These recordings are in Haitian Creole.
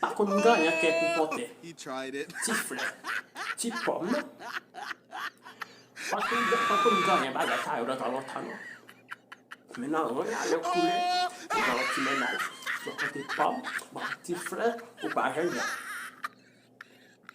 Pa konn m ganyan kè kou pòtè. Ti flè. Ti pòm. Pa konn pa konn ganyan bagay sa yo nan tan lontan non. Men nan ren a lè w koule, ou gen yon ti mennaj. Bò kote pòm, bò kote ti flè, ou pa jèn jan.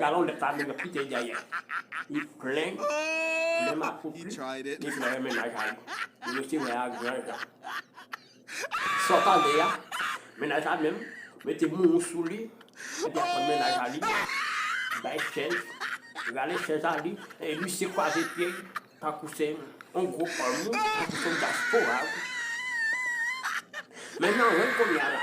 Galon lèt la menm ki te dèyè li plen plen makopli li plen mennaj a li li resi wè a gran jan sa w pale a mennaj la menm mete moumou sou li epi ap tann mennaj a li bay chèz rale chèz a li lise kwaze pye l tankou se yon gwo òm tankou se yon dyaspora wi men nan wen kounye a la.